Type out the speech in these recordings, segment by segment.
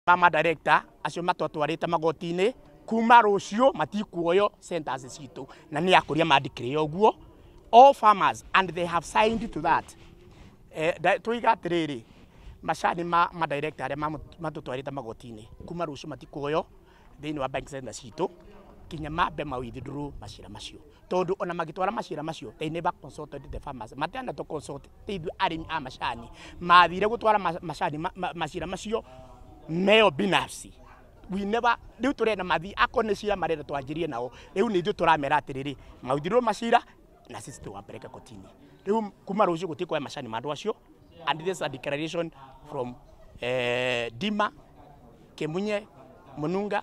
ma madirector acio matwatwarĩte magoti-inĩ kuma rũciũ matikuoyo centers citũ na nĩ akũria mandikire ũguo all farmers and they have signed to that eh, da- tũiga atĩrĩrĩ macani ma madirector arĩa mamu- matũtwarĩte magoti-inĩ kuma rũciũ matikuoyo thĩinĩ wa bank center citũ kinya mambe ma withdraw macira macio tondu ona magitwara macira macio they never consulted the farmers matenda to consult te ithu arimi a macani mathire gutwara ma- macani ma- ma- macira macio meo binafsi we never riu turenda mathi ako ni cira marenda twanjirie nao riu ni ithu turamera atiriri mauthirwo macira na sisi tuwapeleke kotini riu kuma rucio gutikoya macani ma andu acio and this is a declaration from eh, dima kemunye mununga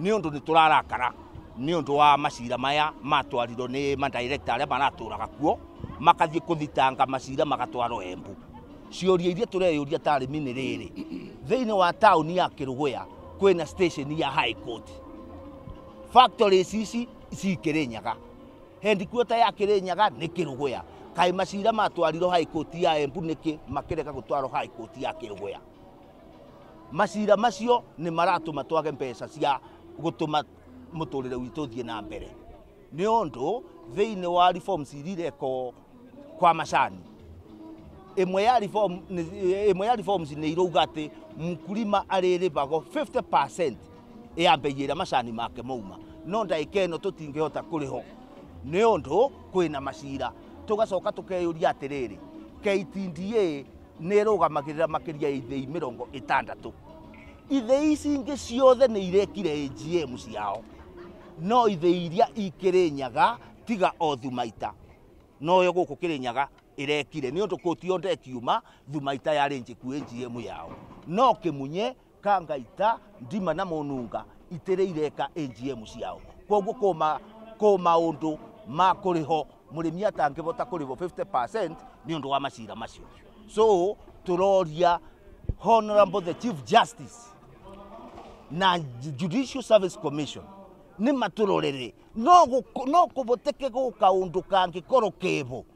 nĩ ũndũ nĩ tũrarakara nĩ ũndũ wa macira maya matwarirwo nĩ madirekta arĩa maratũraga kuo makathiĩ kũthitanga macira magatwarwo embu ciũria iria tũreyũria tarĩmi nĩ rĩrĩ thĩinĩ wa taũni ya kĩrũgũya kwĩna station ya high court factories ici cikĩrĩ nyaga headquarter ya kĩrĩ nyaga nĩ kĩrũgũya kaĩ macira matwarirwo high court ya embu nĩkĩ makĩrega gũtwarwo high court ya kĩrũgũya Maciira macio nĩ maratũma twage mbeca cia gũtũma mũtũrĩre witũ ũthiĩ na mbere, nĩ ũndũ thĩinĩ wa reforms iria irekwo kwa macani, ĩmwe ya reform, ĩmwe ya reforms nĩ irauga atĩ mkulima arĩrĩbagwo 50% ya mbei ĩrĩa macani make mauma no ndagĩka ĩno tũtingĩhota kũrĩho nĩ ũndũ kwĩna macira tũgacoka tũkeyũria atĩrĩrĩ KTDA nĩ ĩrũgamagĩrĩra makĩria ya ithĩi mĩrongo ĩtandatũ. Ithĩi ici ingĩ ciothe nĩ irekire AGM ciao, no ithĩi iria ikĩrĩ nyaga tiga o Thumaita, noyo gũkũ Kĩrĩnyaga ĩrekire nĩ ũndũ kũti o ndekiuma Thumaita yarĩ njĩku AGM yao, no Kĩmunye ka ngaita ndima na mũnunga itĩrĩ ireka AGM ciao koguo kũma kũ maũndũ ma kũrĩho mũrĩmi atangĩhota kũrĩhwo 50% nĩ ũndũ wa macira macio so tũroria honorable the chief justice na judicial service commission nĩ matũrorere no gũk- no kũboteke gũka ũndũ kangĩkorwo kebo